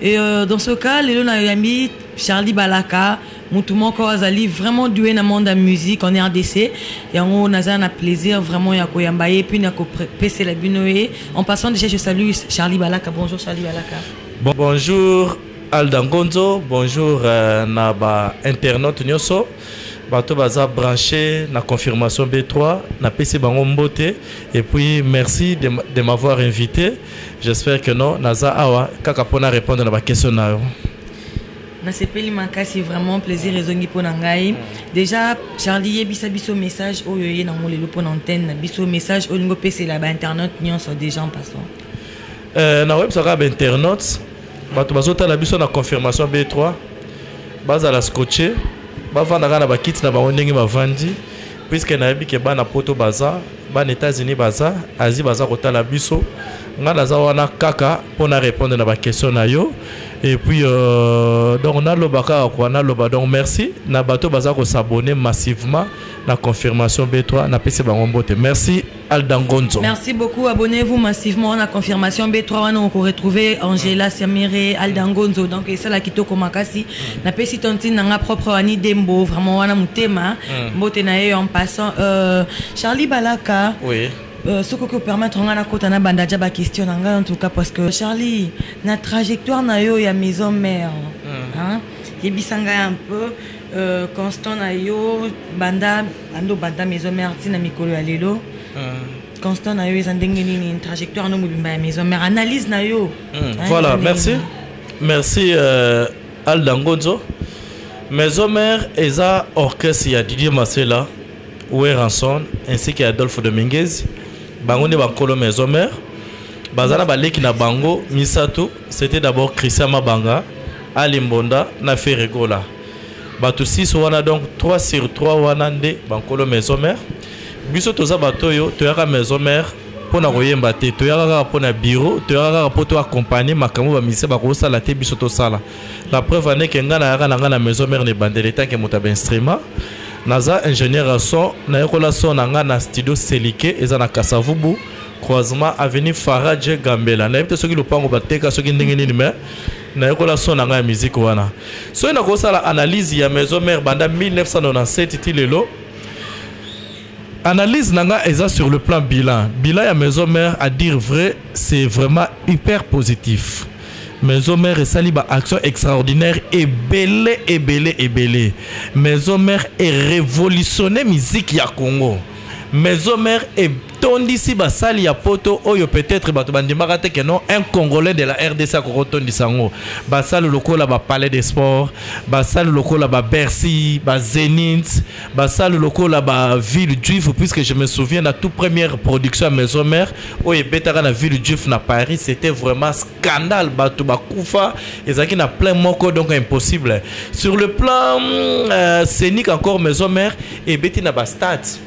Et euh, dans ce cas, Lelo Nayami, Charlie Balaka, Moutoumon Kawazali, vraiment doué dans le monde de la musique en RDC. Yango Naza a plaisir vraiment ya koyambaye, puis nako pese la binoe. En passant déjà, je salue Charlie Balaka. Bonjour Charlie Balaka. Bon, bonjour Alda Ngonzo, bonjour euh, na ba internautes nyoso. bato baza branché na confirmation b3 napesi bango mbote et puis merci de, de m'avoir invité J'espère que non, naza awa kaka pona répondre na ba question na yo. nasepeli makasi vraiment plaisir ezongi mpo na ngai déjà charlie yebisa biso message oyo eye nango lelo mpo na antenne na biso message oyo olingi opesela bainternet nyonso déjà en passant euh, na websa kaka bainternet bato bazotala biso na confirmation b3 bazala scotche bavanda kaka na bakiti na bango ndenge bavandi puisque nayebi ke bana poto baza bana états-unis baza asie baza kotala biso ngai naza wana kaka mpo na répondre na baquestion na yo et puis euh, donc naloba kaka kua naloba donc merci na bato baza kosabonne massivement na confirmation b3 napesi bango mbote merci Alda Ngonzo. Merci beaucoup. Abonnez-vous massivement. On a confirmation B3. On peut retrouver Angela Samire, Alda Ngonzo. Donc, c'est là qui toko makasi. Mm. Na pesi tantine nanga propre Annie Dembo. Vraiment, wana mutema. Mm. Mbote na en passant. Euh, Charlie Balaka. Oui. Euh, ce que permettre on a kota na banda jaba question nanga en tout cas parce que Charlie na trajectoire na yo ya maison mère mm. hein et bisanga un peu Euh, constant na yo banda ando banda maison mère ntina mikolo ya lelo euh. constant na yo eza ndenge nini trajectoire no mobimba ya maison mère analyse na yo hmm, voilà merci merci euh, alda ngonzo maison mère eza orchestre ya didier masela weranson ainsi que adolphe dominguez bango nde bankolo maison mère baza na baleki na bango misato c'était d'abord christian mabanga Ali Mbonda na Ferre Gola. Bato 6 wana donc 3 sur 3 wana nde bankolo maison mère. Biso toza bato oyo toyaka maison mère mpo na koyemba te toyaka kaka mpo na biro toyaka kaka mpo to accompagne makambo bamise bakosala te biso tosala la preuve aneke ngai nayaka na ngai na maison mère na ebandeli etanke moto ya bainstrument naza ingénieur ya son nayekola son na ngai na studio selike eza na kasavubu croisement avenue faradje gambela nayebi te soki lopango bateka soki ndenge nini mais nayokola son na ngai ya miziki wana soki nakosala analyse ya maison mare banda 1997 ti lelo analyse na ngai eza sur le plan bilan bilan ya maison mare à dire vrai c'est vraiment hyper positif maison mare esali baaction extraordinaire ebele ebele ebele maison mare erévolutionne miziki ya congo maison mare tondisi basali ya poto oyo peut-être bato bandimaka te que non un congolais de la rdc akoki kotondisa yango basali lokola ba palais de sport basali lokola ba bercy ba zenith basali lokola ba ville juif puisque je me souviens la toute première production ya maison mère oyo ebetaka na ville juif na paris c'était vraiment scandale bato bakufa ezalaki na plein moko donc impossible sur le plan euh, scénique encore maison mère ebeti na bastade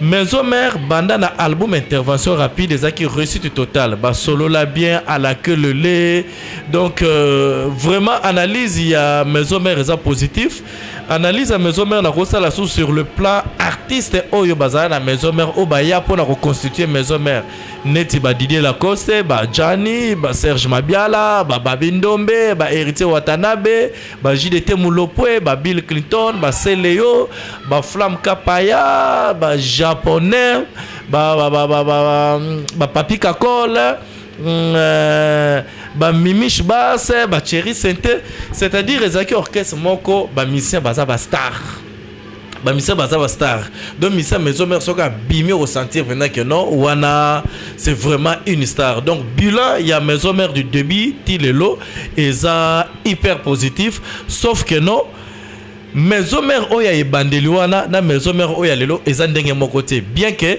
maison mère banda na album intervention rapide ezalaki réussite totale basolola bien à la queue le lait donc euh, vraiment analyse ya maison mère eza positif analyse ya maison mère nakosala sous sur le plan artiste oyo bazala na maison mère oyo baya mpo na koconstitue maison mère neti badidie lacoste bajani baserge mabiala bababi ndombe bahéritier watanabe ba JDT Mulopwe, ba Bill Clinton, ba Celeo, ba Flam Kapaya, ba Japonais, ba ba ba ba ba, ba Papi Kakole, mm, euh, ba Mimish Basse, ba Cherry Sente, c'est-à-dire ezaki orchestre moko ba musiciens baza ba stars. ba misa baza ba star donc misa maison mère soki abimi okosentir mpenza que non wana c'est vraiment une star donc bilan ya maison mère du début ti lelo eza hyper positif sauf que non maison mère oyo ya ebandeli wana na maison mère oyo ya lelo eza ndenge moko te bien que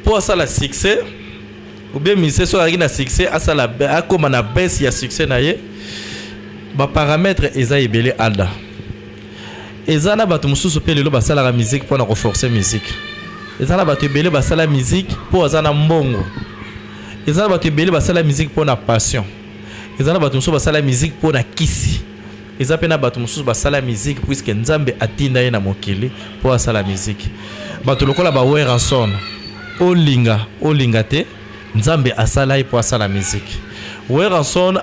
mpo asala succès ou bien musicien soki azalaki na succès asala akóma na baisse ya succès na ye baparametre eza ebele ada eza na bato mosusu mpe lelo basalaka miziki mpo na koforce miziki eza na bato ebele basala miziki mpo aza na mbongo eza na bato ebele basala miziki mpo na passion eza na bato mosusu basala miziki mpo na kisi eza pe na bato mosusu basala miziki puiske nzambe atinda ye na mokili mpo asala miziki bato lokola ba weranson olinga olinga te nzambe asala ye mpo asala miziki weranson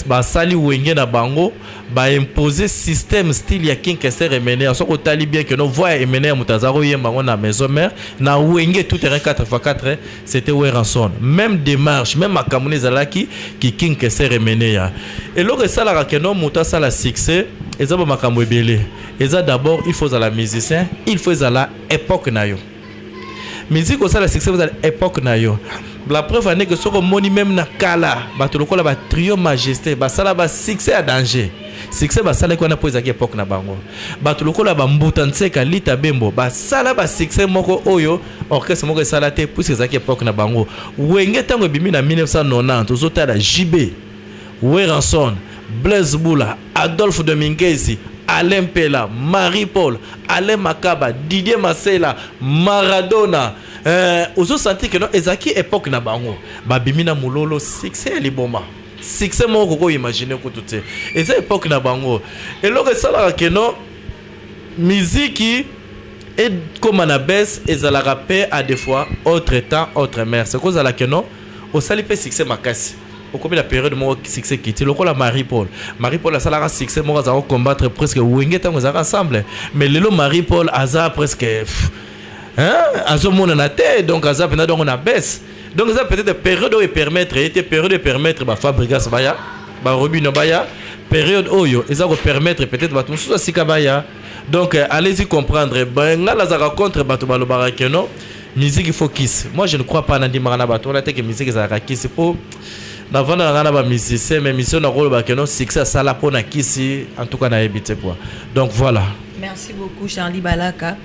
basali wenge na bango baimpose système style ya kinkester emener soki otali bien keno voi ya emener moto aza koyemba yango na maison mare na wenge tout terrain 4x4 c'était Werrason même démarche même makambo ezalaki kiking keser emeneya eloko esalaka keno moto asala succès eza ba makambo ebele eza d'abord il faut ozala musicien il faut ezala époque na yo musique osala succès ozala époque na yo la preuve ane ke soki omoni meme na kala bato lokola ba trio majesté basala ba succès ya danger succès basalaki wana mpo ezalaki époque na bango bato lokola bambuta nseka lita bembo basala ba succès moko oyo orchestre moko esala te puisque ezalaki époque na bango wenge ntango ebimi na 1990 ozotala jb weranson blaise bula adolphe de mingezi alain mpela marie paul alain makaba didier masela maradona euh, ozosanti keno ezalaki époque na bango babimi na mololo succès ya liboma succès moko kokoimagine kutu te eza époque na bango eloko esalaka keno miziki ekoma na bese ezalaka mpe a des fois autre temps autre mère se kozala ke non osali mpe succès makasi okomi na periode moko succès kiti lokola marie paul marie paul asalaka succès moko azalaka kocombattre presque wenge ntango ezalaka ensemble mais lelo marie paul aza presque azomonana te donc aza mpenza dongo na bese donc eza peut-être période oyo epermettre ye te période epermettre bafabrigas baya barobino baya période oyo eza kopermettre peut-être bato mosusu asika baya donc euh, allez-y comprendre ngai nazalaka contre bato balobaka ke non musique il faut kisi moi je ne crois pas nandimaka na bato wana te ke musique ezalaka kisi mpo navanda na ngai na bamusicien mais mission nakoloba ke non succès asala mpo na kisi en tout cas nayebi te quoi donc voilà merci beaucoup charlie balaka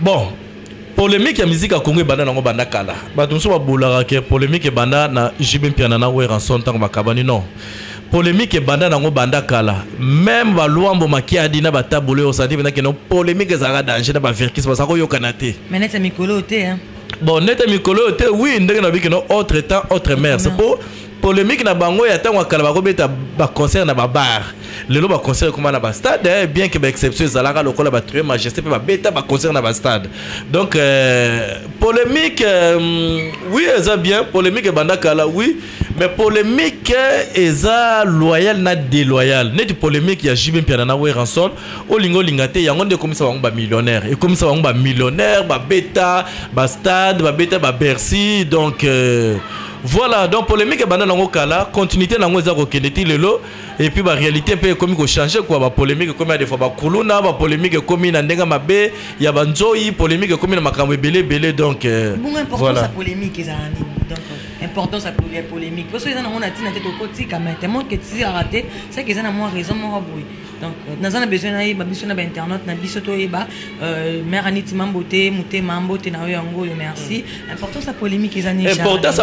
bon polemique ya musique ya congo ebanda nango banda kala bato mosusu babolaka ke polemique ebanda na jb mpiana na weranson ntango bakabani non polemique ebanda nango banda kala meme baluambo makiadi na batabolo oyo osandi mpenza keno polemique ezalaka danger na bavirkis baza koyokana te manete mikolo oyo te bon nete mikolo oyo te wi ndenge na bikeno autre temps autre mers mpo polemique na bango ya ntango ya kala bakobeta baconcert na babar lelo baconcert ekoma na bastade eh, bien ke baexception ezalaka lokola batrie majesté mpe babeta baconcert na bastade donc euh, polemique euh, oui eza bien polemique ebanda kala oui mais polemique eh, eza loyal na déloyal neti polemique ya jb mpiana na weranson olinga olinga te yango nde ekomisa bango bamillionnaire ekomisa bango bamillionnaire babeta bastade babeta babercy donc euh, Voilà, donc polémique ebanda nango kala, continuité nango eza kokende ti lelo et puis ba réalité mpe ekomi ko changer quoi, ba polémique ekomi ya des fois ba kuluna, ba polémique ekomi na ndenge mabe, ya ba nzoyi, polémique ekomi na makambo ebele ebele donc euh, bongo importance voilà. ya polémique eza na nini donc euh, importance ya poli- ya polémique mpo soki eza nango na ntina te tokotika mai tellement que tisilaka te seke eza na mwa raison moko boye donc euh, naza na besoin nayeba biso na bainternaute na biso toyeba euh, mare aniti mambo te motema mbote na yo yango oyo merci mm. importance ya polémique eza nini importance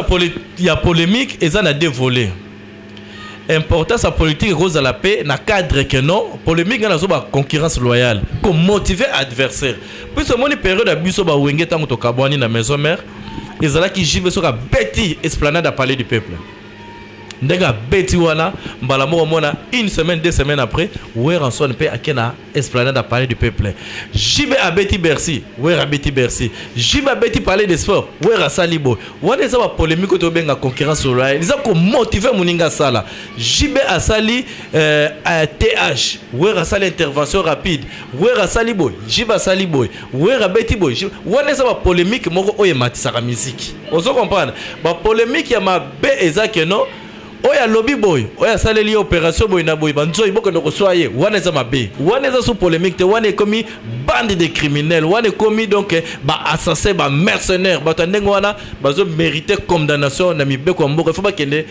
ya polémique eza na deux volets importance ya politique ekozala mpe na cadre que non polémique ngai nazoba concurrence loyale komotive adversaire puiso omoni periode ya biso bawenge ntango tokabwani na maison mère ezalaki jibe soki abeti esplanade ya palais du peuple ndenge abeti wana mbala moko mona une semaine deux semaines après weranson mpe ake na esplanade ya palais du peuple jibe abeti bercy wera abeti bercy jibe abeti palais de sport wera asali boye wana eza bapolémike oyo tobenga concurrence loyale eza komotive moninga asala jibe asali euh, th wera asali intervention rapide wera asali boye jibe asali boye Werra abeti boye wana eza ba polemique moko oyo ematisaka miziki ozo comprendre ba polemique ya mabe eza que non oyo alobi boye oyo asaleli ye opération boye na boye banzoi bokende koswa ye wana eza mabe wana eza sous polémique te wana ekomi bande de criminel wana ekomi donc baassassin bamercenaire bato ya ndenge wana bazo mérite condamnation na mibeko ya mboka ifo bakende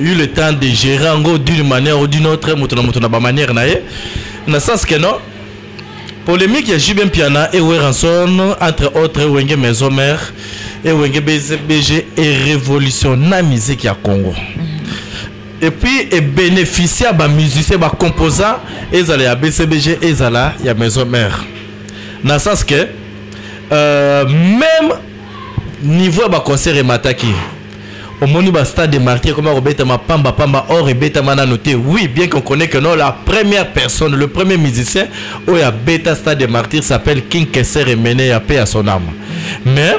eu le temps de gérer yango d'une manière ou d'une autre moto na moto na bamanière na ye na sens que non polémique ya jube mpiana e weranson entre autres wenge maison mère e wenge bg e révolution na musique ya congo mm. et puis ebénéficie ya bamusicien bacomposant ezala ya bcbg ezala ya maison mère na sens que euh, même niveau ya baconcert emataki omoni ba stade de martyr ekoma kobetama pamba pamba or ebetama nano te oui bien qu'on connaît que non la première personne le premier musicien oyo abeta stade de martyr s'appelle king keser emene ya paix à son âme mais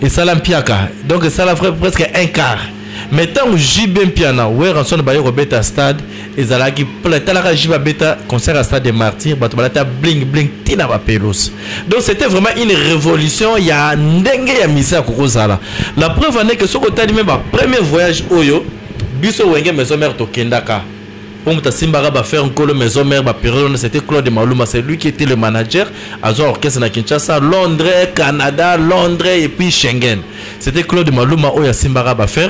esala mpiaka donc esala presque un quart mais ntango jb mpiana weranson baye kobeta stade ezalaki pole talaka ji babeta concert ya stade de martyr bato balata bling bling ntina bapelosi donc c'était vraiment une révolution ya ndenge ya misa ya kokozala la preuve ane ke soki otali me bapremier voyage oyo biso wenge maison mare tokendaka mpo moto asimbaka bafer nkolo maison mare baperiode wana c'était claude maluma c'est lui qui était le manager azwa orchestre na kinshasa londres canada londres et puis schengen c'était claude maluma oyo asimbaka bafer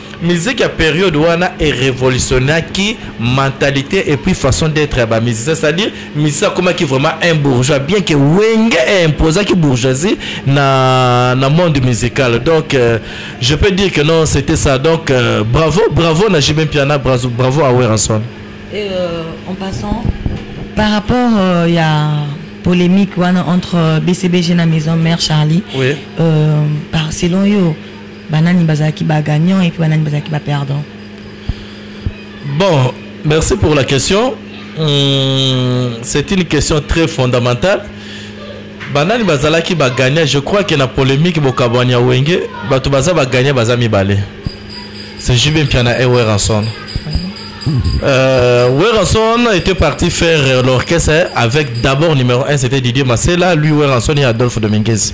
musique ya période wana e révolutionnaki mentalité et puis façon d'être ya bamusicien c'est-à-dire musicien akomaki vraiment un bourgeois bien que wenge imposaki bourgeoisie na, na monde musical donc euh, je peux dire que non c'était ça donc euh, bravo bravo na jibin piana bravo, bravo à weranson et euh, en passant par rapport euh, ya euh, polémique wana entre bcbg na maison mère charlie oui. euh, par selon yo Banani bazalaki ba gagnant et puis banani bazalaki ba perdant? Bon, merci pour la question. Hum, c'est une question très fondamentale. Banani bazalaki ba gagnant, je crois que na polémique bokabwanya wenge, bato baza ba gagnant baza mibale. C'est Jubin Piana et Werrason. Euh, Werrason était parti faire l'orchestre avec d'abord numéro 1 c'était Didier Massela, lui Werrason et Adolphe Dominguez.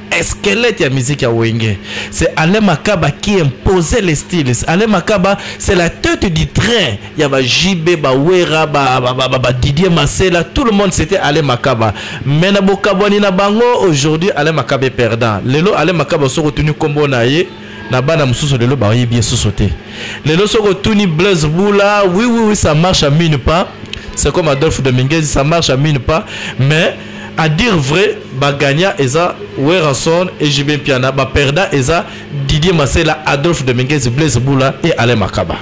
esquelette ya musique ya wenge c'est alain makaba qui imposait les styles alain makaba c'est la tête du train ya ba jb bawera badidier masela tout le monde c'était alain makaba mais na bokabwani na bango aujourd'hui alain makaba est perdant lelo alain makaba soki otuni nkombo na ye na bana mosusu lelo bayebi ye susu te lelo soki otuni blaise bula oui oui oui ça marche à mine pas c'est comme adolphe dominguez ça marche à mine pas mais A dire vrai, ba gagnants eza Werrason et JB Mpiana, ba perdants eza Didier Masela, Adolphe Dominguez, Blaise Boula et Alain Makaba.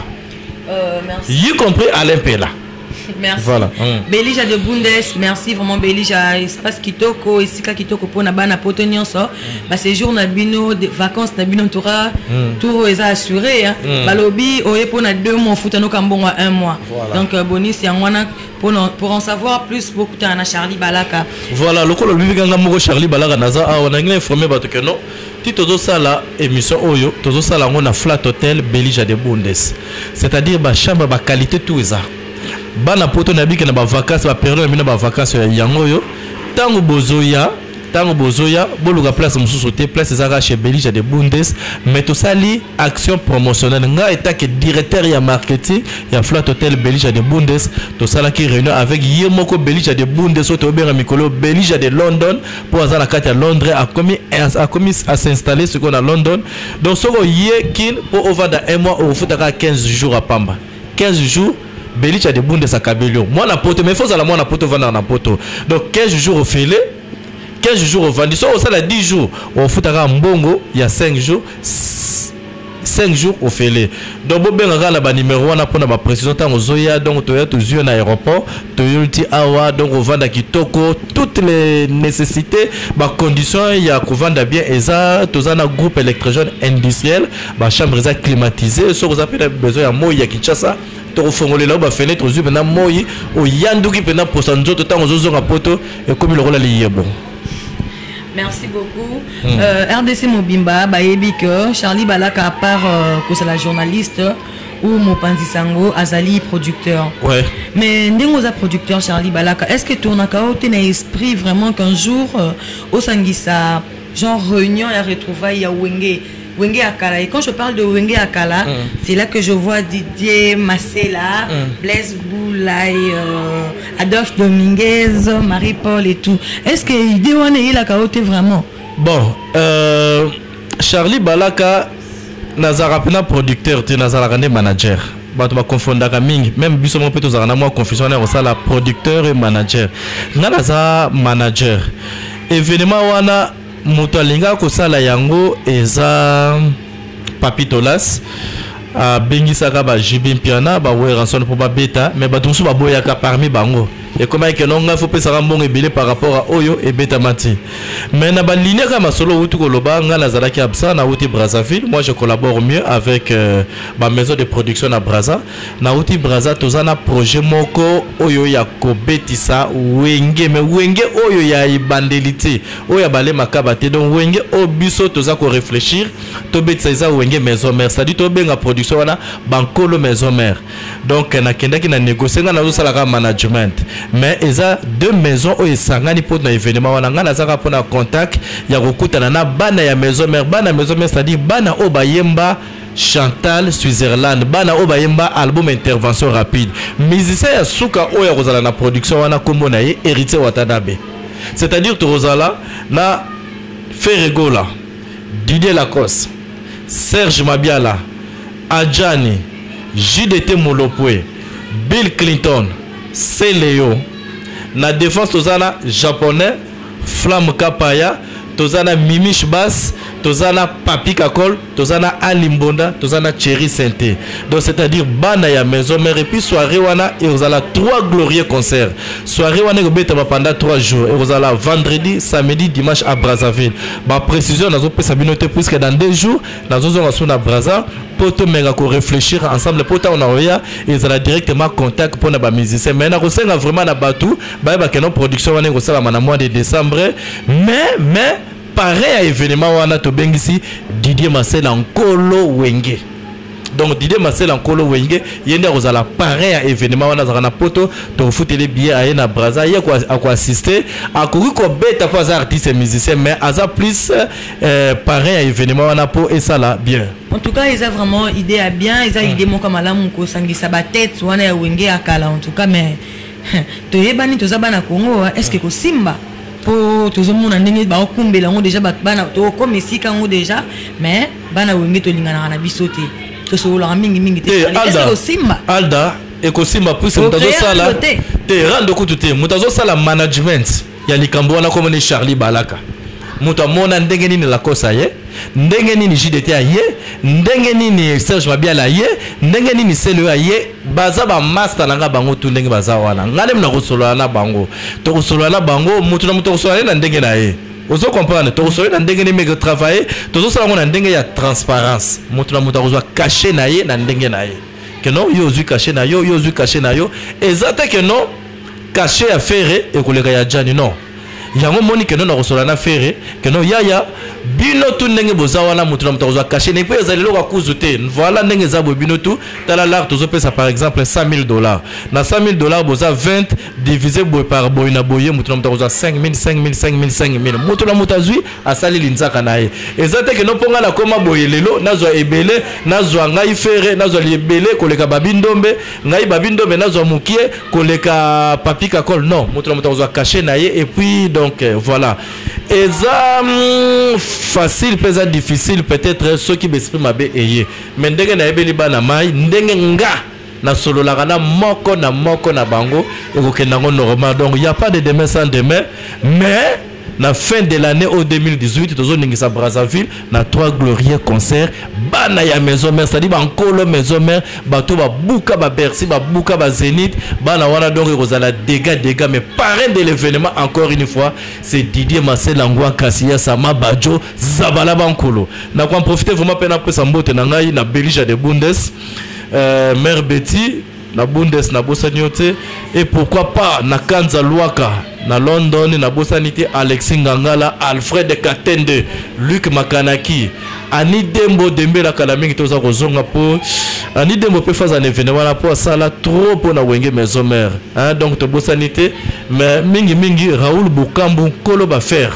Euh, merci. Y compris Alain Pela. Merci. Voilà. Mm. Belija de Bundes, merci vraiment Belija, espace kitoko, esika kitoko pona bana poto nyonso. Mm. Ba séjour na bino, de vacances na bino tora, mm. tour eza assuré hein. Mm. Balobi oye pona 2 mois futa no kambongo 1 mois. Voilà. Donc euh, bonus ya ngwana Pour, pour en savoir plus, beaucoup t'as un Charlie Balaka. Voilà, le colo lui ganga moko Charlie Balaka naza ah on a rien informé parce que non. Ti tozo sala émission oyo, tozo sala ngona flat hotel Belija de Bundes. C'est-à-dire ba chambre ba qualité tout ça. Bana poto na biki na ba vacances, ba période na bina ba vacances ya yango yo. Tango bozoya ntango bozoya boluka place mosusu te place ezalaka chez belija de bundes mais tosali action promotionnelle ngai etake directeur ya marketing ya flat hotel belija de bundes tosalaki réunion avec ye moko belija de bundes oyo tobenga mikolo belija de london mpo aza na kati ya londres akomi akomi asinstalle sikoyo na london donc soki oye kin mpo ovanda un mois okofutaka 15 jours apamba 15 jours Belicha de bunde sa kabelio. Moi na poto mais faut la moi na poto vanda na poto. Donc 15 jours au filet 15 jours au vandi so osala 10 jours ofutaka mbongo ya 5 jours 5 jours au ofele donc bobengaka na banimero wana mpona baprécision ntango ozoya donc toya tozwi na aéroport toyoli ti awa donc ovanda kitoko toutes les nécessités bacondition ya kovanda bien eza toza na groupe électrogène industriel ba chambre eza climatisé soki oza mpe na besoin ya moi ya kinshasa tokofongolela yo bafenetre ozwi mpenza moi oyanduki mpenza mposa nzoto ntango ozozonga poto ekomi lokola liyebo Merci beaucoup. Mm. Euh, RDC Mobimba, Bayebi que Charlie Balaka, à part euh, que c'est la journaliste, ou Mopanzi Sango, Azali producteur. Ouais. Mais Ndengoza producteur Charlie Balaka, est-ce que tu as un esprit vraiment qu'un jour, euh, au Sangisa, genre réunion ya retrouvaille ya wenge wenge ya kala et quand je parle de wenge ya kala mm. c'est là que je vois didier masela mm. blaise boulay euh, adolphe dominguez marie paul et tout est ce que idée wana eyelaka yo te vraiment bon euh, charlie balaka nazalaka mpena producteur te nazalaka nde manager bato baconfondaka mingi meme biso moko mpe tozalaka na mwa confusion wana ya kosala producteur et manager ngai naza manager evenema wana moto alingaka kosala yango eza papitolas abengisaka ba jb mpiana ba werrason mpo babeta me bato mosusu baboyaka parmi bango ekomaki keno ngai fopesaka mbongo ebele par rapport a oyo ebetama te mais na balinia kaka masolo outi koloba ngai nazalaki absent nauti brazzaville moi je collabore mieux avec euh, bamaison de production na brazza Nauti Braza toza na projet moko oyo ya kobetisa wenge me wenge oyo ya ebandeli te oyo ya bale makaba te donc wenge oyo biso toza ko réfléchir tobetisa eza wenge maison mère c'est-à-dire tobenga production wana bankolo maison mère donc nakendaki na négocie ngai nazosalaka management mais eza deux maisons oyo esangani mpo na événement wana ngai nazaka mpo na contact ya kokutana na bana ya maison mère bana maison mère c'est-à-dire bana oyo bayemba Chantal Switzerland bana oyo bayemba album intervention rapide musicien ya suka oyo akozala na production wana kombo na ye Héritier Watanabe c'est-à-dire tokozala na Ferregola Didier Lacoste Serge Mabiala Adjani JDT Molopwe Bill Clinton Celeo na défense tozana japonais Flamme Kapaya, toza na Mimish Bass, toza na Papi Kakol, toza na Ali Mbonda, toza na Cherry Sainté. Donc c'est-à-dire bana ya maison mère et puis soirée wana et vous allez trois glorieux concerts. Soirée wana ekobeta ba pendant trois jours et vous allez vendredi, samedi, dimanche à Brazzaville. Ba précision nazo pesa bino te puisque dans deux jours nazo zonga sona Brazza po to menga ko réfléchir ensemble po ta on a oya et ça directement contact pona ba musiciens. Mais na ko senga vraiment na batu bayeba keno production wana ekosalama na mois de décembre mais mais pareil ya événement wana tobengisi didier masela nkolo wenge donc didier masela nkolo wenge ye nde akozala pareil ya événement wana azalaka na poto tokofuteli billet aye na braza ye akoassiste akoki kobeta mpo aza artiste musicien mais aza plus euh, pareil ya événement wana mpo esala bien en tout cas eza vraiment idée ya bien eza hmm. idée moko malamu kosangisa batete wana ya wenge ya kala en tout cas mais toyebani toza bana congo hein. est ce que kosimba mpo tozomona ndenge baokumbela yango deja bana tokoma esika yango deja mais bana wenge tolinganaka na biso te tosololaka mingimingi te eh, osimba alda ekosimba puise moto azosala te rando kutu te moto azosala management ya likambo wana kombo ni charlie balaka moto amona ndenge nini lakosa ye ndenge nini jdt aye ndenge nini serge mabiala aye ndenge nini seleo aye baza bamasta na ngai bango tu ndenge baza wana ngai nemi nakosolola na bango tokosolola na bango moto na moto akosolola ye na ndenge na ye ozo comprendre tokosolola na ndenge nini meke travaille tozosala yango na ndenge ya transparence moto na moto akozwa kashe na ye na ndenge na ye keno yo ozwi kashe na yo yo ozwi kashe na yo eza te keno kashe ya fere ekoleka ya jani non yango moni keno na kosola na fere keno yaya bino tu ndenge boza wana moto na moto akozwa kashe ne mpe ezali eloko akuzu te voilà ndenge eza boye bino tu tala lar tozopesa par exemple 100 000 dollars na 100 000 dollars boza 20 divise boye par boye na boye moto na moto akozwa 5 000 5 000 5 000 5 000 moto na moto azwi asali linzaka na ye eza te keno mpo ngai nakoma boye lelo nazwa ebele nazwa ngai fere nazwa ebele koleka babindombe ngai babi ndombe nazwa mukie koleka papi kakol non moto na moto akozwa kashe na ye et puis donc euh, voilà eza mm, facile mpe eza difficile peut-être soki besprit mabe eye mais ndenge nayebeli bana mai ndenge nga nasololaka na moko na moko na bango ekokenda yango normal donc ya pas de demain sans demain mais na fin de l'année au 2018 tozoningisa brazzaville na trois glorieux concert bana ya maison mère c'est-à-dire bankolo maison mère bato babuka babercy babuka bazénith bana wana donc ekozala dégât dégât mais parrain de l'événement encore une fois c'est didier maselangwa kasiya sama badjo zabala bankolo nakoamprofite vraiment mpe napesa mbote na ngai na belge ya de bundes euh, mère betty na bundes nabosani yo te et pourquoi pas na kanza luaka na london nabosani te alexi ngangala alfred katende luc makanaki ani dembo dembela kala mingi toza kozonga mpo ani dembo mpe faza na evene wana mpo asala trop mpo na wenge maison mare donc tobosani te mais mingimingi raoul bokambu nkolo bafere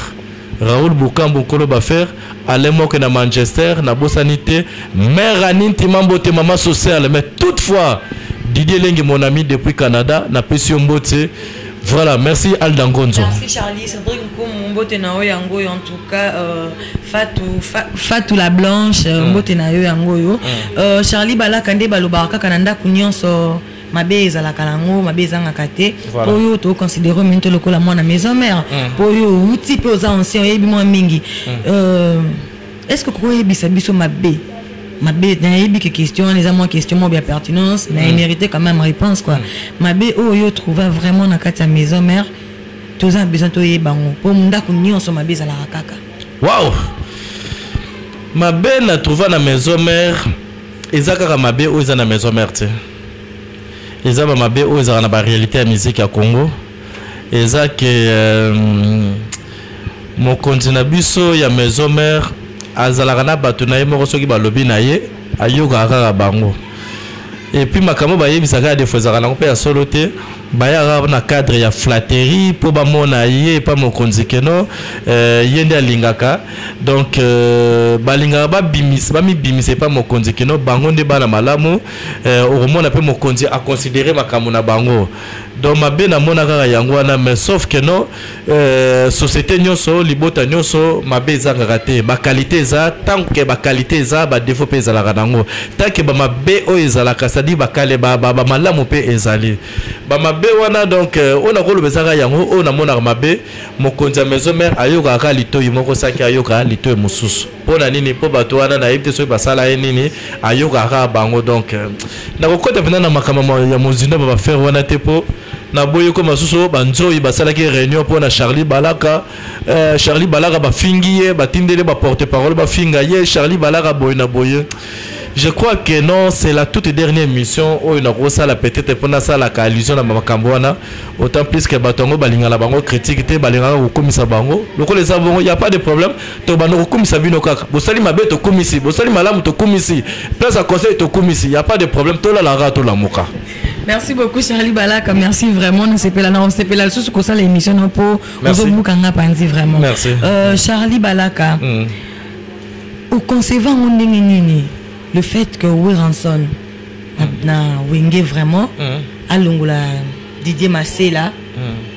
Raoul Bukambu Nkolo Bafere Alain Moke na Manchester na bosani te Mère Annie Ntima Mbote Mama Sociale mais toutefois Didier Lengi mon ami depuis Canada na pesi yo mbote Voilà, merci Alda Ngonzo. Merci Charlie, Cédric Nkoum, mbote na yo yango en tout cas euh, Fatou fa, Fatou la blanche, euh, mm. mbote na yo yango yo. Mm. Euh, Charlie Balaka nde balobaka kaka na ndako nyonso mabe ezalaka nango mabe ezangaka te mpo yo toconsidere mini to lokola mwana maison mare mpo mm. yo outi mpe oza ancien oyebi mwa mingi mm. euh, est ce que kokoyebisa biso mabe mabe nayebi ke question wana eza mwa question moko ya pertinence na mm. mérité quand même réponse quoi mabe oyo yo trouva vraiment na kati ya maison mare toza na besoin toyeba yango mpo ndako nyonso mabe ezalaka kaka wow mabe na trouva na maison mare eza kaka mabe oyo eza na maison mère te eza ba mabe oyo ezalaka na ba réalité ya musique ya Congo eza ke euh, mokonzi na biso ya maison mère azalaka na bato na ye moko soki balobi na ye ayokaka kaka bango epuis makambo bayebisaka ya defo ezalaka nango mpe ya solo te bayaka na cadre ya flatterie mpo bamona ye epa mokonzi keno euh, ye nde alingaka donc euh, balingaka babimisa bamibimisa epa mokonzi keno bango nde bana malamu euh, okomona mpe mokonzi aconsidere makambo na bango donc mabe namona kaka yango wana mais sauf keno Euh, société nyoso libota nyoso mabe ezangaka te bakalite eza ntango ke bakalite eza badefo mpe ezalaka nango tanke bamabe oyo ezalaka sadi bakale bamalamu mpe ezali bamabe wana donc euh, oyo nakoloba ezaka yango oyo namonaka mabe mokonzi ya maison mare ayokaka litoi moko saki ayoka litoi mosusu mpo na nini mpo bato wana nayebi te soki basala ye nini ayokaka kaka bango donc euh, nakokota mpenza na makambo ya mozindo ba bafere wana te mpo naboyi ko masusu banzoi basalaki réunion mpo na charlie balaka euh, charlie balaka bafingi ye batindeli baporte parole bafinga ye charlie balaka boye na boye je crois que non c'est la toute dernière émission oyo nakosala peut-être mpo nasalaka allusion na makambo wana autant plus que bato yango balingana bango critique te balingaka kokomisa bango lokola eza bongo ya pas de problème tobanda kokumisa bino kaka bosali mabe tokumisi bosali malamu tokumisi place ya conseil tokumisi ya pas de problème tolala kaka tolamuka merci beaucoup charlie balaka merci vraiment nasepela na osepela lisusu kosala émission na mpo ozobuka nga panzi vraiment merci. Euh, charlie balaka mm. oconceva yango ndenge nini le fait que weranson na, na wenge vraiment mm. alongola didier masela mm.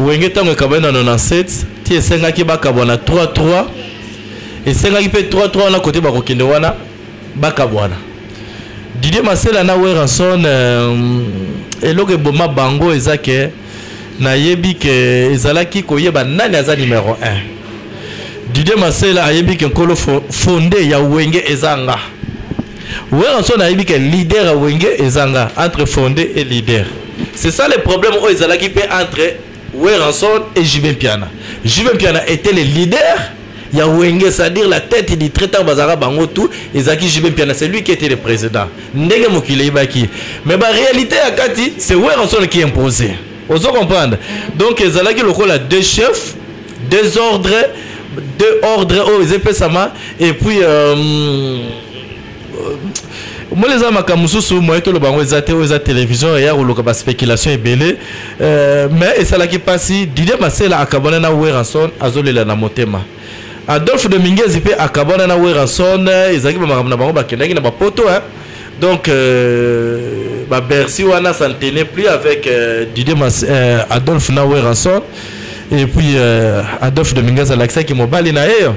wenge ntango ekabani na 97 ti esengaki bakabwana 33 esengaki mpe 33 wana kote bakokende wana bakabwana didie masela na weranson euh, eloko eboma bango eza ke nayebi ke ezalaki koyeba nani aza numero 1 didie masela ayebi ke nkolo fonde ya wenge eza nga weranson ayebi ke leader ya wenge eza nga entre fonde e leader C'est ça le problème oyo ezalaki mpe entre Werrason et Jubin Piana. Jubin Piana était le leader ya Wenge, c'est-à-dire la tête du traitant Bazara Bango tout, Ezaki Jubin Piana, c'est lui qui était le président. Ndenge Mokile Ibaki. Mais la réalité à Kati, c'est Werrason qui imposait. Vous comprenez Donc Ezalaki lokola deux chefs, deux ordres, deux ordres, oh, et puis... Euh, omoni eza makambo mosusu moye toloba yango eza te oyo eza télévision eya koluka baspéculation ebele euh, mais esalaki mpasi didie masela akabwana na weranson azolela na motema adolphe de mingezi mpe akabwana na weranson ezalaki bamakambo na bango bakendaki na bapoto hein? donc euh, babercy wana ça ne tenait plus avec euh, didie Mas, euh, adolphe na weranson et puis euh, adolphe de mingezi alakisaki mobali na ye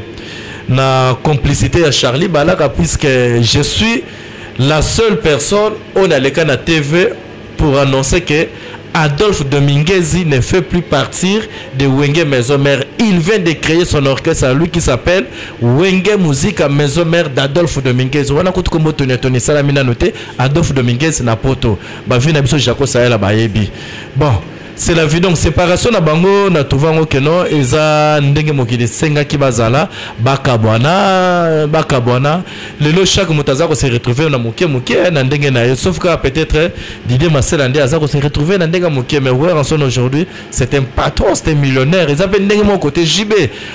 na complicité ya charlie balaka puisque je suis la seule personne oyo naleka na tv pour annoncer que Adolphe Dominguezi ne fait plus partir de Wenge Maison Mère. Il vient de créer son orchestre à lui qui s'appelle Wenge Musica Maison Mère d'Adolphe Dominguez. Wana kutu kombo toni toni sala mina note Adolphe Dominguez na poto. Ba vie na biso Jaco Sahela bayebi. Bon, c'est la vie donc séparation na bango na tovango keno eza ndenge mokili esengaki bazala bakabwana bakabwana lelo chaque moto aza kose retrouve na moke moke eh, na ndenge na ye sauf kaka peut-être eh, didie masela nde aza kose retrouve na ndenge ya moke mais wer anson aujourd'hui c'est un patron c'est un millionnaire eza mpe ndenge moko kote jb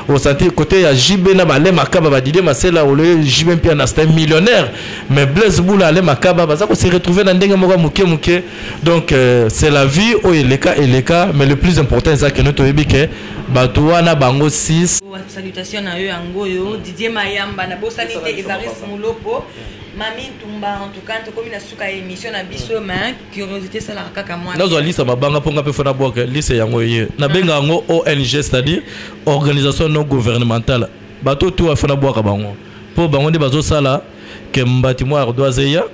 osanti kote ya jb na bale makaba badidie masela oloye jb mpe ana c'est un millionnaire mais blaise bula ale makaba baza kose retrouve na ndenge moko ya moke moke donc euh, c'est la vie oyo eleka eleka mais le plus important eza keno toyebi ke bato wana bango 6 salutation na yo yango oyo didie mayamba nabosani te evaris mulopo mami ntumba en tout cas tokomi na suka ya émission na biso ma curiosité esalaka kaka mwa nazwa lisa mabanga mpo nga mpe fona bwaka lisa yango eye nabenga yango ong c'est-à-dire organisation non gouvernementale bato oyo to afona bwaka bango mpo bango nde bazosala ke mbati mwa ardoise eya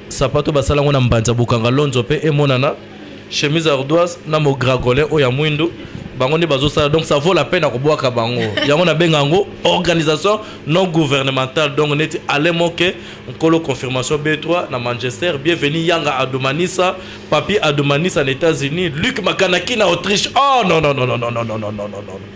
sapato basala yango na mbanza bokanga lonzo mpe emonana chemise ardoise na mogragole oyo ya mwindu bango nde bazosala donc ça vaut la peine ya kobwaka bango yango nabenga yango organisation non gouvernementale donc neti ale moke nkolo confirmation b3 na manchester bienvenu yanga adomanisa papi adomanisa na états-unis luc makanaki na autriche oh non non non non non non non non non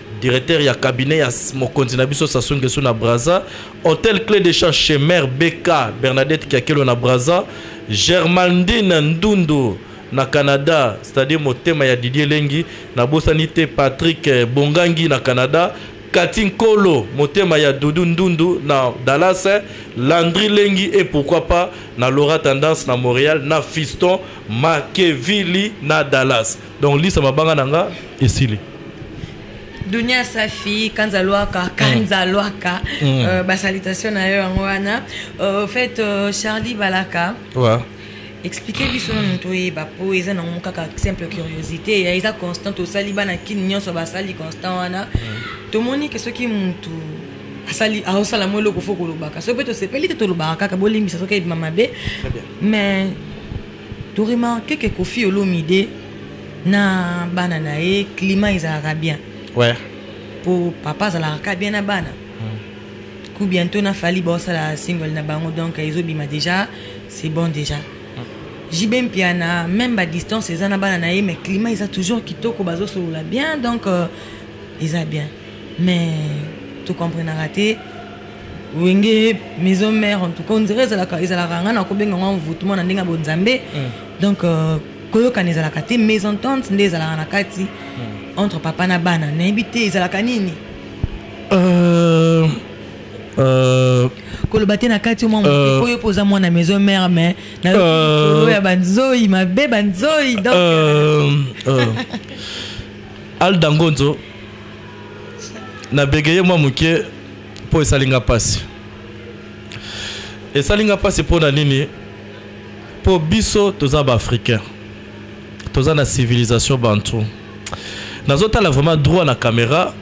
directeur ya cabinet ya mokonzi na biso Sassou Nguesso na Brazza, hôtel clé de champ chez mère BK Bernadette Kiakelo na Brazza, Germaldine Ndundu na Canada, c'est-à-dire motema ya Didier Lengi, na bosani te Patrick eh, Bongangi na Canada, Katin Kolo, motema ya Doudou Ndundu na Dallas, eh, Landry Lengi et pourquoi pas na Laura Tendance na Montréal, na Fiston Makevili na Dallas. donc lisa mabanga na nga esili dunia safi kanza lwaka mm. kanza lwaka mm. euh, basalitation na yo yango wana euh, fait euh, charlie balaka ouais. explike biso na moto oyeba mpo eza nango kaka simple curiosité ya eza constant tosali bana kini nyonso basali constant wana mm. tomoni ke soki motu asali aosala mo eloko fo kolobaka soki mpe tosepeli te tolobaka kaka bolimbisa soki ebima mabe mais to remarque que kofi olomide na bana na ye climat ezalaka bien ouais. po papa azalaka ka bien na bana mm. ku bientôt na fali baosala single na bango donc ezobima déjà c'est bon déjà mm. jb mpiana même badistance eza na bana na ye mais climat eza toujours kitoko bazosolola bien donc euh, eza bien mais tocomprenaka te wenge maison mère en tout cas on dirait ezalaka ezalaka nga nakobenga ngo envoûtement na ndenge ya bonzambe mm. donc euh, koyokana ezalaka te mais entente nde ezalaka na kati mm. entre papa na bana nayebi te ezalaka nini euh, euh, koloba te na kati mwa moke oyo mpo oza mwana maison mère mais nayo ya banzoi mabe banzoi donc aldangonzo na bégayé mwa moke mpo esali nga mpasi esali nga mpasi mpo na nini mpo biso toza baafricain toza na civilisation bantu nazotala vraiment droit na caméra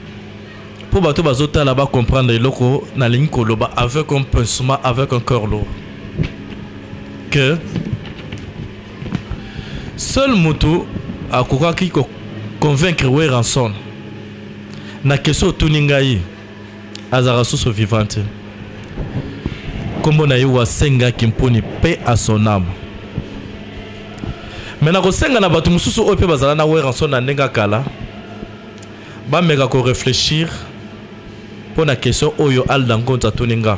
mpo bato bazotala bacomprendre eloko nalingi koloba avec un pincement avec un cœur lourd que seul mutu akokaki ko convaincre Werrason na question otuni ngai azalaka susu vivant te nkombo na ye wasengaki mponi mpe asonama me nakosenga na bato mosusu oyo mpe bazala na Werrason na ndenge kala bameka koreflechir mpo na question oyo alda nkonza atuni nga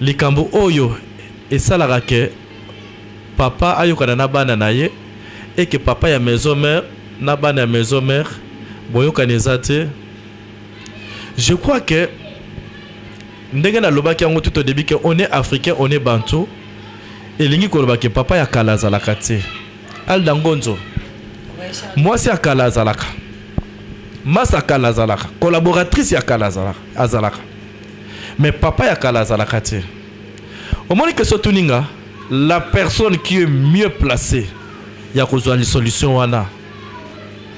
likambo oyo esalaka que papa ayokana na bana na ye et que papa ya maison mère na bana ya maison mère boyokani eza te je crois que ndenge nalobaki yango tout au début que on est africain on est bantou elingi koloba ke papa ya kala azalaka te alda ngonzo mwasi ya kala azalaka masa kala azalaka collaboratrice ya kala azalaka mais papa ya kala azalaka te omoni question tuni nga la personne qui est mieux placée ya kozwa lisolution wana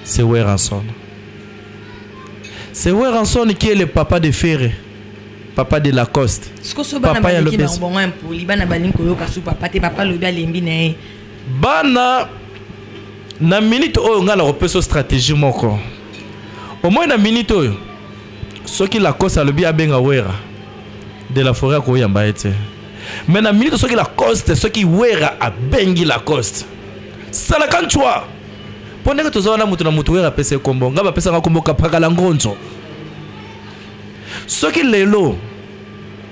c'est weranson c'est weranson qui est le papa de ferre papa de lacoste papa ya lopes bana balingi koyoka su papa te papa alobi alembi na ye bana na minute oyo ngai nakopesa stratégie moko omoi na minute oyo soki lacoste alobi abenga wera de la foret akoyamba ye te mai na minute soki lacoste soki wera abengi lacoste salaka ncwa mpo ndenge toza wana moto na moto wera apesa ye kombo ngai bapesaka kombo kapakala ngonzo soki lelo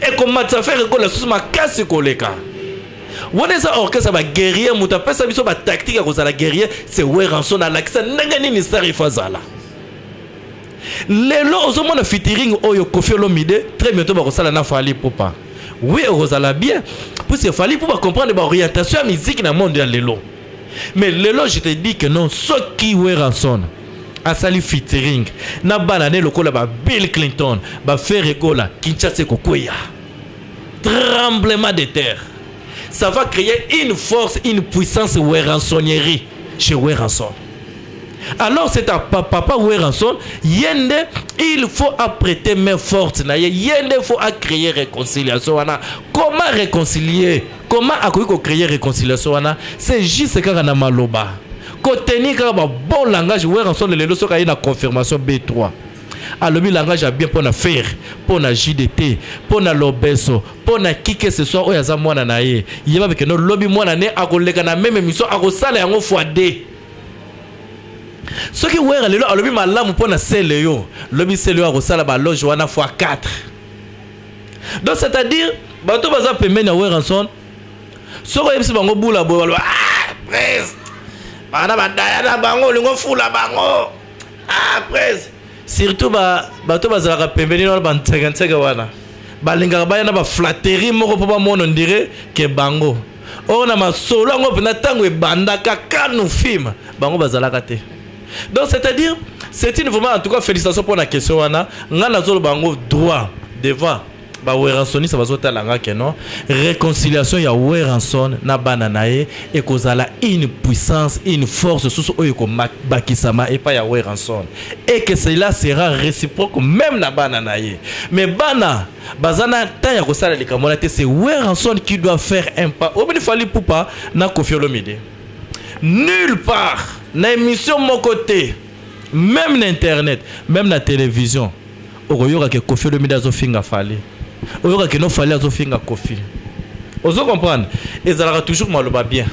ekomatisa fere ekola susu makasi koleka wana eza orchestre ba guerrier moto apesa biso ba tactique ya kozala guerrier se weranson alakisa ndenge nini star ifo azala lelo ozomona fitiring oyo kofi olomide très bientôt bakosala na fali pupa oui okozala bien puisque fali pupa comprendre baorientation ya miziki na monde ya lelo mais lelo je te dis que non soki weranson asali featuring na bana ne lokola ba bill clinton ba ferre gola kinshasa ekokweya tremblement de terre ça va créer une force une puissance weransonnerie chez weranson alors c'est à papa weranson ye nde il faut apprêter main forte na ye ye nde faut acréer réconciliation wana comment réconcilier Comment akoki ko créer réconciliation wana c'est juste kaka na maloba. Ko tenir kaka ba bon langage Werrason lelo soka ye na confirmation B3. alobi langage ya bien mpo na fer mpo na jdt mpo na lobeso mpo na kike ce soit oyo aza mwana na ye yeba bikende lobi mwana ne akoleka na meme émission akosala yango fois 2 soki wera lelo alobi malamu mpo na sele yo lobi sele yo akosala baloge wana fois 4 donc c'est à dire bato baza pembeni ya weranson soki oyebisi bango bula boye baloba ah, pres bana badaya na bango olingi ofula bango ah, pres surtout bato bazalaka pembeni wana bansekenseke wana balingaka baya na baflatterie moko mpo bamona ndire ke bango oyo na masolo yango mpenza ntango ebandaka kanu film bango bazalaka te donc c'est à dire c'est une vraiment en tout cas félicitation pour la question wana nga nazoloba yango droit devant baweransoniste bazotala nga ke non réconciliation ya weranson na bana na ye ekozala une puissance une force susu oyo ekobakisama epai ya weranson et que cela sera réciproque même na bana na ye mais bana baza na temps ya kosala likambo wana te c'est weranson qui doit faire un pas omini fali pupa na kofi olomide nulle part na émission moko te même na internet même na télévision okoyoka ke kofi olomide azofinga fali oyoka kino fali azofinga kofi ozo comprendre ezalaka toujours maloba bien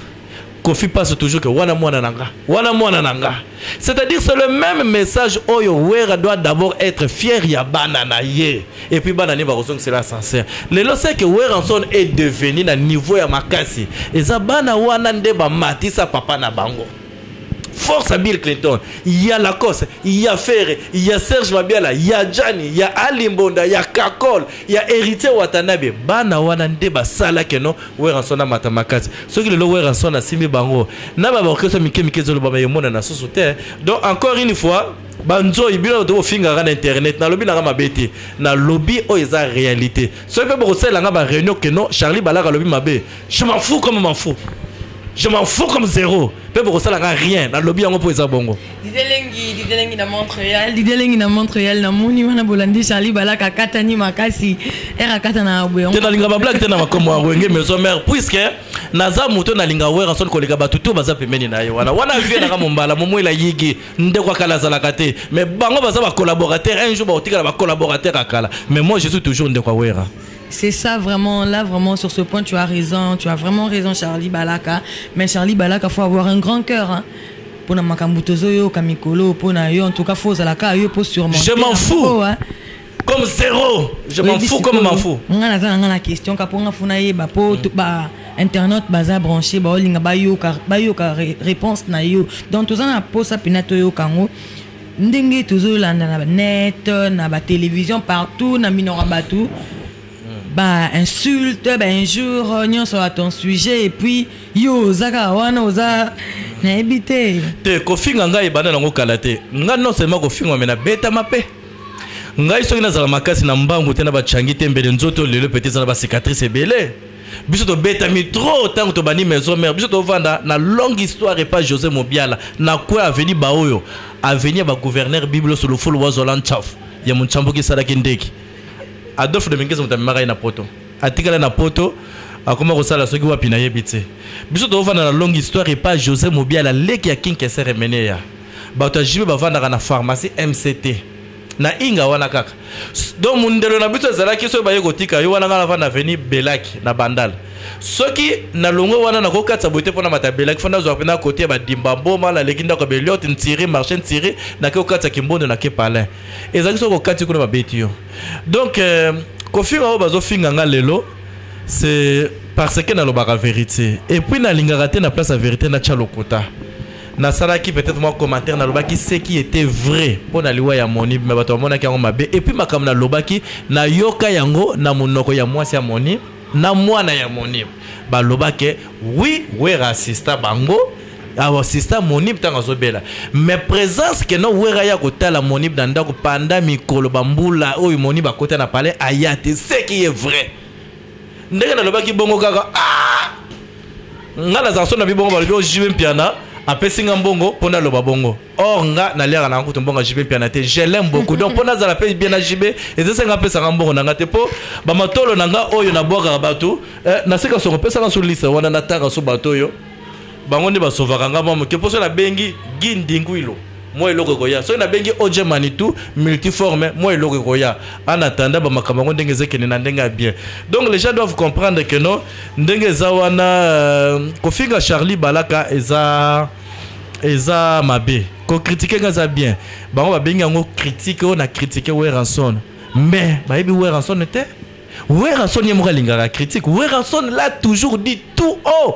kofi passe toujours que wana mwana na nga wana mwana na nga c'est-à-dire c'est le même message oyo wera doit d'abord être fier ya bana na ye et puis bana ne bakozongisela ascenseur lelo seke weranson est devenu na niveau ya makasi eza bana wana nde bamatisa papa na bango force à bill clinton ya lacoste ya ferre ya serge mabiala ya jani ya alimbonda ya kakol ya héritier watanabe bana wana nde basalaki no weranson amata makasi soki lelo weranson asimbi bango na babaorkestre mike mike ezolobama emonana susu te donc encore une fois banzoi bino bato bofingaka na internet nalobi nanga mabe te nalobi oyo eza réalité soki mpe bokosalela nga baréunion ke non charlie balaka alobi mabe je m'en fous comme m'en fous je m'en fous comme zéro mpe bokosalaka rien nalobi yango mpo eza bongo lidelengi lidelengi na montréal lidelengi na montréal namoni wana bolandi charlie balaka akatani makasi ere akata na boyango te nalinga bablage te na makomo ya wenge maison mare puiske naza moto nalinga werrason koleka bato to baza pembeni na ye wana wana vie nanga mombala momwela yigi ndeko akala azalaka te mais bango baza ba collaborateur un jour bakotikala ba collaborateur akala mais moi je suis toujours ndeko awera C'est ça vraiment, là vraiment sur ce point tu as raison, tu as vraiment raison Charlie Balaka. Mais Charlie Balaka, faut avoir un grand cœur. Hein. Pour na makambo tozo yo kamikolo, pour na yo en tout cas faut zalaka yo pour sûrement. Je m'en fou. Hein. comme zéro je m'en fous comme m'en fous nga naza na nga na question ka mpo nga funa yeba mpo mm. ba internet baza branche baolinga bayoka bayoka réponse na yo donc toza na mposa mpena toyoka yango ndenge tozolanda na net na batélévision partout na minoko ya bato mm. bainsulte bainjure nyonso ya ton sujet epuis yo oza kaka wana oza nayebi te te kofinga ngai ebanda nango kala te ngai non seulement kofingwa me nabetama mpe ngai soki nazala makasi na mbangu te na bachangi te mbele nzoto lelo pete eza na bacicatrice ebele biso tobetami trop ntango tobandi maison mare biso tovanda na longue histoire epa josé mobiala na kue aveni baoyo aveni ya bagouverneur biblo solofolo wazola nchafu ya monchambuki esalaki ndeki adolphe de mingese moto amemaka ye na poto atikala na poto akoma kosala soki wapi nayebi te biso tofanda na longue histoire epa josé mobiala leki ya kinkeser emeneya bato ya jibe bavandaka na pharmacie mct na inga wana kaka donc mondelo na biso ezalaki soki baye kotika yo wana ngai navanda aveni belaki na bandal soki nalongwe wana nakokatisa boye te mpo na mata belaki fo nazwa mpena kote ya badimba mboma naleki ndako ya beliote ntiri marché ntiri nake kokatisa kimbondo nake palin ezalaki soki kokati kuna babeti yo donc euh, kofinga oyo bazofinga ngai lelo c'est parce que nalobaka vérité et puis nalingaka te na place ya vérité natya lokuta nasalaki peut-être mwa commentaire nalobaki ce qui était vrai mpo na liwa ya moni me bato bamonaki yango mabe epuis makambo nalobaki nayoka yango na monoko ya mwasi ya moni na mwana ya moni balobaki wi wera asista bango asista monib ntango azobela mais présence ke no wera ya kotala monib na ndako panda mikolo bambula oyo monib akota na palais aya te ce qui est vrai ndenge nalobaki bongo kaka ah! nga nazala so na bibongo balobi o oh, jibe mpiana apesi nga mbongo mpo naloba bongo or nga naliaka nanga kutu mbongo ya jibe mpiana te je l'aime beaucoup donc mpo nazala mpe bien na jibe ezasi nga apesaka mbongo na nga te mpo bamatolo na nga oyo nabwakaka bato eh, nasika soko pesaka so lisa wana natanga so bato oyo bango nde basovaka nga mwa moke mposo nabengi gi ndinguilo mwa eloko ekoya soki nabengi oje manitou multiforme mwa eloko ekoya en attendant bamakambo yango ndenge ezekende na ndenge ya bien donc les gens doivent comprendre que non ndenge eza wana euh, kofinga charlie balaka eza eza mabe kokritike nga eza bien bango babengi yango kritike oyo na kritike weranson mais bayebi weranson te weranson ye moko alingaka kritike weranson la toujours dit tout haut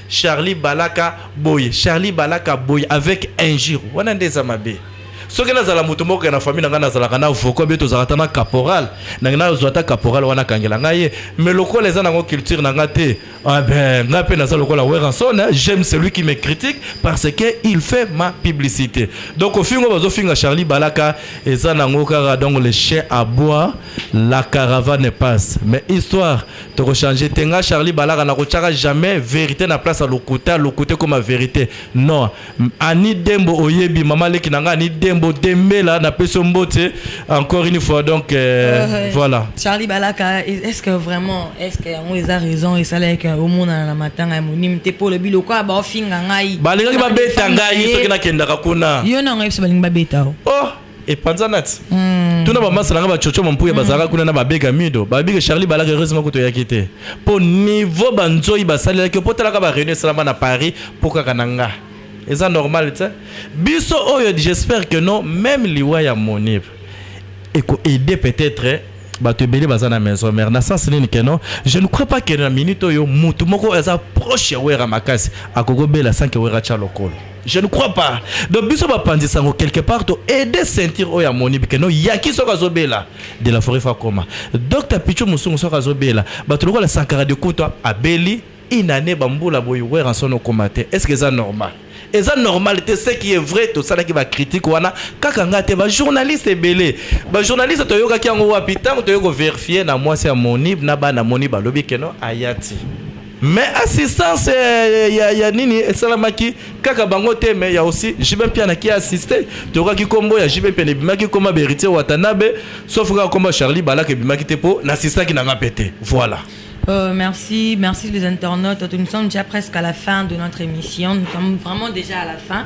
Charlie Balaka boye Charlie Balaka boye avec injure wana nde eza mabe soki nazala moto moko ya na famille na ngai nazalaka na voko mpe tozalaka ata na caporal nange nazwa ata caporal wana akangela ngai ye mais lokola eza nango culture na ngai te ah ben ngai mpe naza lokola weranson hein. j'aime celui qui me critique parce que il fait ma publicité donc ofingo bazofinga charlie balaka eza nango kaka donc le chien aboie la caravane passe mais histoire toko changer te nga charlie balaka nakotyaka jamais verité na place ya lokuta lokuta ekoma verité non ani dembo oyebi mama leki na nga ani dembo dembela napesi yo mbote encore une fois donc euh, uh, -huh. voilà charlie balaka est ce que vraiment est ce que yango eza raison esalaki omonana na matanga ya monimi te mpo olobi lokola baofinga ngai balingaki babeta ngai soki nakendaka kuna yo na ngai biso balingi babeta o oh. epanzanati mm. tuna bamasa na ngai bacoco mampuya mm. bazalaka kuna na babega mido babega charlie balaka heureusement kutu oyaki te mpo niveau banzoi basalelaki mpo talaka bareunion esalama na paris mpo kaka na nga eza normal te biso oyo j'espère que non même liwa ya monib ekoaide peut-être bato ebele baza na maison mère na sens nini keno je ne crois pas que na minute oyo motu moko aza proche ya wera makasi akokobela sanke wera tya lokolo je ne crois pas donc biso bapanzi sango quelque part to aide ceinture oyo amoni bike no yaki soki azobela de la forêt fakoma dr pichu mosungu soki azobela bato lokola sankara de kutwa abeli une année bambula boye weranson okoma te est ce que eza normal eza normal te ce qui est vrai tosalaki bacritique wana kaka ngai te bajournaliste ebele bajournaliste toyokaki yango wapi ntango toyei koverifie na mwasi ya monib na bana moni balobi keno ayati mais assistance eh, ya, ya nini esalamaki kaka bango te mais ya aussi jibe mpiana ki assiste tokaki nkombo ya jibe mpiana ebimaki nkoma beritier watanabe sauf kaka nkombo ya charlie balaka ebimaki te mpo na assistaki nanga mpe te voilà Euh, merci, merci les internautes. Nous sommes déjà presque à la fin de notre émission. Nous sommes vraiment déjà à la fin.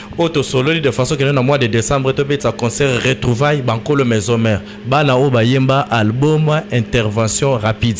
oyo tosololi de façon kende na mois de décembre tobetisa concert retrouvaille bankolo maison mare bana oyo bayemba album intervention rapide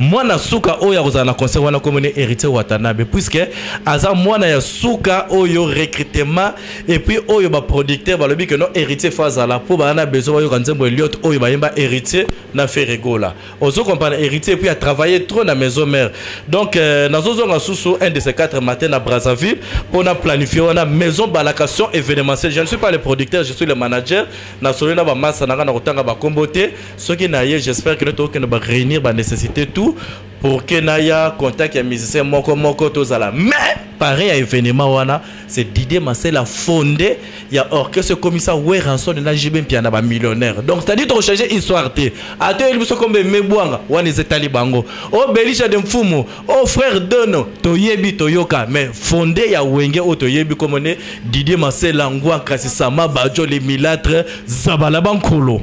mwana suka oyo akozala na concert wana komoni héritier watanabe puisque aza mwana ya suka oyo recrutement epuis oyo baproducteur balobi ke no héritier fo azala mpo baa na besoin bayoka nzembo eliot oyo bayemba héritier na feregola ozo comprendre héritier puis a travaillé trop na maison mère donc euh, nazozonga susu un de ces quatre matin na brazzaville mpo na planifie wana maison balacation événementiel je ne suis pas le producteur je suis le manager nasoli na bamasa na ngai na kotanga bakombo te soki na ye j'espère que tokokende baréunir banécessité tout pour que naya contact ya musicien moko moko tozala mais pareil ya événement wana c'est Didier Masela fondé il y a orchestre comme ça Werrason na JB Mpiana ba millionnaire donc c'est-à-dire tu changer histoire te ato il biso comme mebwanga wana ezetali bango oh Belisha de Mfumu oh frère Dono toyebi toyoka mais fondé ya Wenge o toyebi comme ne Didier Masela ngwa kasi sama bajo les milâtres zabala bankolo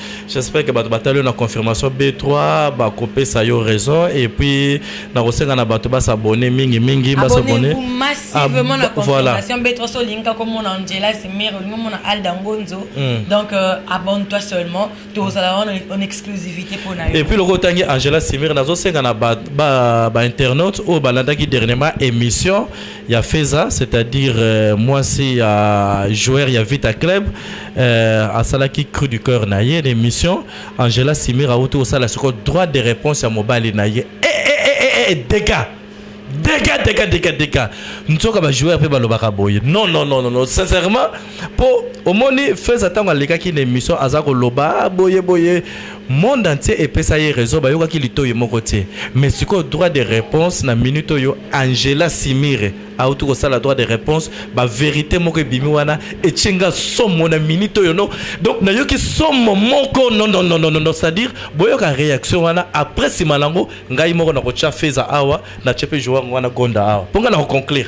J'espère que bato batali yo na confirmation B3 bakopesa yo raison et puis nakosenga na bato basabone mingi mingi basabone massivement na confirmation B3 so olinga komona Angela Simir olinga komona Alda Ngonzo hmm. donc euh, abonne-toi seulement tozala wana en exclusivité mpo na yo et puis loko otangi Angela Simir nazosenga na ba, ba, ba internautes oyo balandaki dernièrement émission ya Feza c'est-à-dire euh, mwasi ya joueur ya Vita Club euh, asalaki cru du cœur na ye l'émission Angela Simira auti osala siko droit de réponse ya mobali na ye eh, eh, eh, eh, eh, dégâts dégâts dégâts dégâts dégâts nzoka ba joueur pe balobaka boye non non non non, non. sincèrement mpo omoni feza ntango alekaki na émission aza koloba ah, boye boye monde entier epesa ye réseau bayokaki litoyi moko te mais sikoyo droit de réponse na minute oyo angela simire auti kosala droit de réponse baverité moko ebimi wana etye nga somo na minute oyo no donc nayoki somo moko nonnononono c'est-à-dire boyoka réaction wana après nsima nango ngai moko nakotya feza awa natye mpe joango wana gonda awa mpo ngai nakoconclure